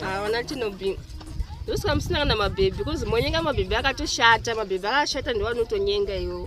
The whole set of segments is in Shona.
hawana chinobi ndosika musina kana mabhebhi bcoz monyenga mabhebhi akatoshata mabhebhi akashata ndowanotonyenga iwo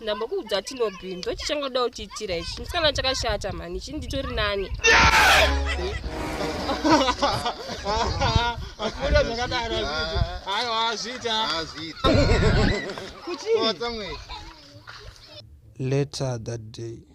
ndambokuudza tinobin ndochichangoda kutiitira ichi musikana chakashata mani chii nditori nani akuda zvakadaro aiwa azviita kuchii later that day